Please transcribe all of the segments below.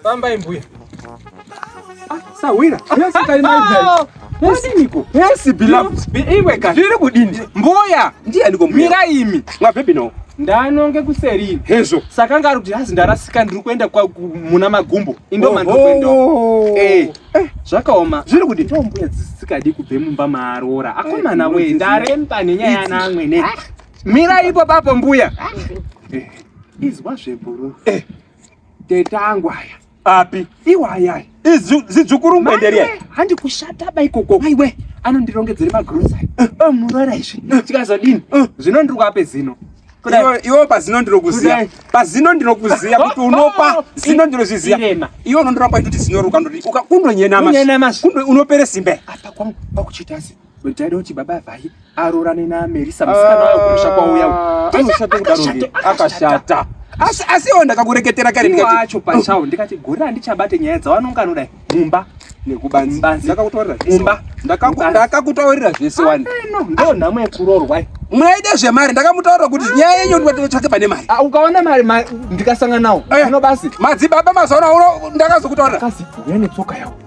Fambai mbuya. Ah, sahwira. Yes, kali mai dai. Musiniko. Yes, beloved. Iwe ka. Zviri kudini? Mbuya. Ndiye ndiko mbuya. Mira imi. Mwa baby no. Ndanonge kuseri. Hezvo. Saka ngari kuti hazi ndarasika ndiri kuenda kwa muna magumbo. Indo oh, mandiri kuenda. Oh. Eh. Eh, zvakaoma. Zviri kudini? Ndo mbuya dzisikadi kubve mumba maarora. Akomana eh, we ndaremba nenyaya yana amwene. Ah. Mira ipo papo mbuya. Eh, izwa zvebhuru. Eh. Teta angu aya. Api? Iwaya. Izu zidzukuru mwenderia. Handi kushata ba ikoko. Maiwe anondirongedzera magrocery. Eh. Oh murara izvi. Eh. Tikazodini? Eh. Zvino ndiri kwape zino. Iwo pazino ndinokuziya. Pazino ndinokuziya kuti unopa oh, oh, zino ndinozviziya. Iwo unondoramba kuti zino ruka ndoti ukakundonyenama. Unopere simbe. Apa kwangu pakuchita asi. But I don't baba vhai arorane na Melissa musikana wayo kumusha kwauya. Anoshata kudaro ndiye akashata. Asi asi iwo ndakakureketera kare ndikati wacho pachawo ndikati gore handichabate nyaya dzawanonga anoda mumba nekubanzi. Ndakakutaurira mumba. Ndakakutaurira zvese wani. Ndo nhamo yekurorwa. Mwaida zvemari ndakamutaurira kuti nyaya yenyu ndinotsvake pane mari. Ah, ukaona mari ndikasangana nawo. Zvino eh, basi. Madzibaba mazaona uno ndakazokutaurira. Kasi yane tsoka yawo.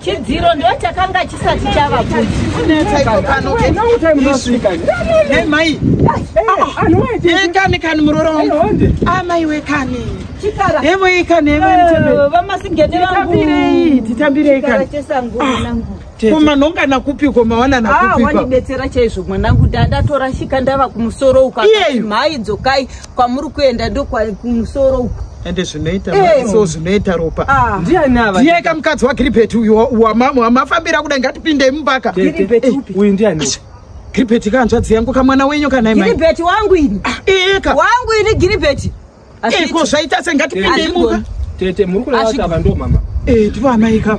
chidziro ndo chakanga chisati chava kuimai kani kani muroro wangu amai wekani hevo ikani hevovamasingete vangutambirei titambirei kani kumanongana kupi kumawana nakupiwandibetsera ah, chaizvo mwanangu ndatorashika ndava kumusoro ukamhai dzokai kwamuri kuenda ndokwakumusoro uku ende zvinoita eh. so zvinoita ropa ah. ndiye ka mukadzi wagiribheti uyu wamafambira kudai ngatipindei mumbaka eh, uyu ndiani giribheti kahanzvadzi yangu kamwana wenyu kanaigiribheti wangu ini ah, eh, wangu ini giribheti ko zvaita se ngatipindei mumba tete muri kuraaava ndo mama ndivanaika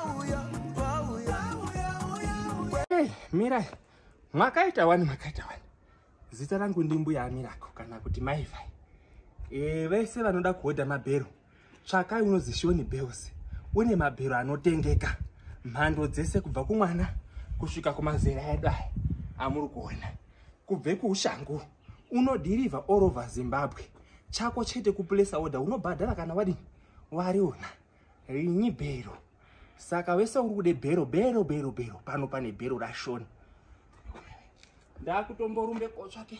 Hey, mirai makaita wani makaita wani zita rangu ndi mbuya amirako kana kuti maivai e, eh, vese vanoda kuhodha mabhero tsvakai unozishoni bells une mabhero anotengeka mhando dzese kubva kumwana kusvika kumazera edu aya amuri kuona kubve kuushangu unodhirivha all over zimbabwe chako chete kupulesa order unobhadhara kana wadini wariona rinyi bhero saka wese uri kude bhero bhero bhero bhero pano pane bhero rashoni ndakutomborumbe kotsvake